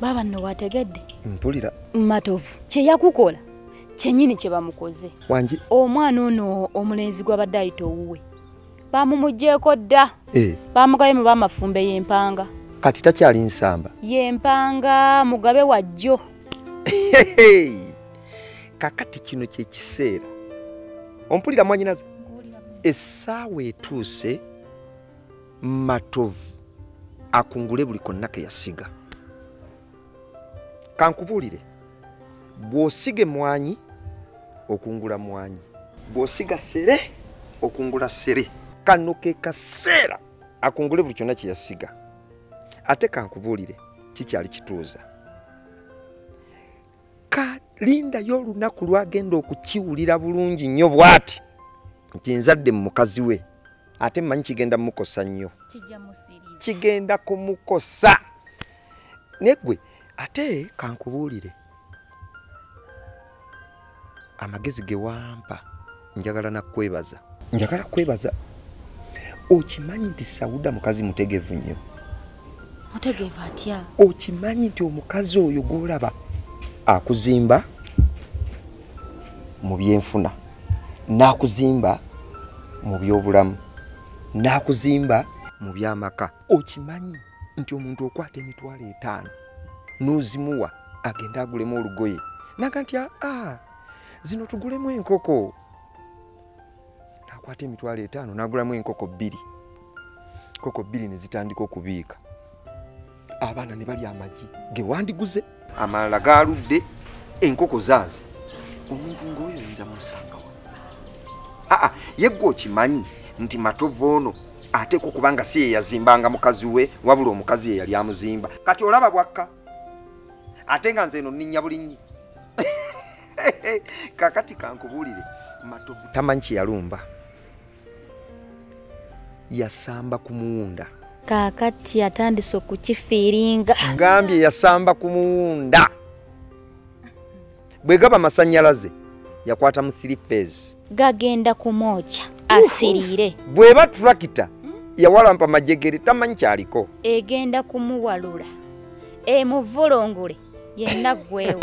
baaba nno wategedde mpulira matovu kyeyakukola kyenyini kyebamukoze wangi omwana ono omulenzi gwabadde ayita owuwe bamumugjeeko dda eh. bamugabe mu bamafumbe yempanga kati takyali nsamba yempanga mugabe wajjo kakati kino kyekiseera ompulira mwanyinaze essaawa etuuse matovu akungule buli konna ke yasiga kankubuulire bw'osiga emwanyi okungula mwanyi bw'osiga sere okungula sere kano ke kaseera akungule buli kyonna kye yasiga ate kankubuulire kikyali kituuza kalindayo olunaku lwagenda okukiwulira bulungi nnyo bw'ati nti nzadde mu mukazi we ate mmanyi kigenda mukosa nnyo kigenda kumukosa negwe ate kankubuulire amagezi gewampa njagala nakwebaza njagala kwebaza okimanyi nti sauda mukazi mutegevu nnyo mutegevu atya okimanyi nti omukazi oyo gwolaba akuzimba mu byenfuna n'akuzimba mu byobulamu n'akuzimba mu byamaka okimanyi nti omuntu okwata emitwalo etaano n'ozimuwa agende agulemu olugoye naga nti aa ah, ah, zino tugulemu enkoko nakwata emitwalo etaano nagulamu enkoko bbiri nkoko bbiri ne zitandika okubiika abaana ne balya amagi ge wandiguze amalala gaaludde enkoko zaaze omuntu ng'oyo oyinza musangawa aa yeggwe okimanyi nti matovu ono ateeka okuba nga si yeyazimbanga mukazi we wabula omukazi ye yali amuzimba kati olaba bwakka ate nga nze eno nninya bulinnyi kakati kankubuulire matovu tamanyi kye yalumba yasamba ku muwunda kaakati atandise okukifiiringa ngambye yasamba ku muwunda bwe gaba masannyalaze yakwata mu three phase gagenda kumwokya asiriire bw'eba turakita yawalampa majegere tamanyi kyaliko egenda kumuwalula emuvulungule yenna gwewo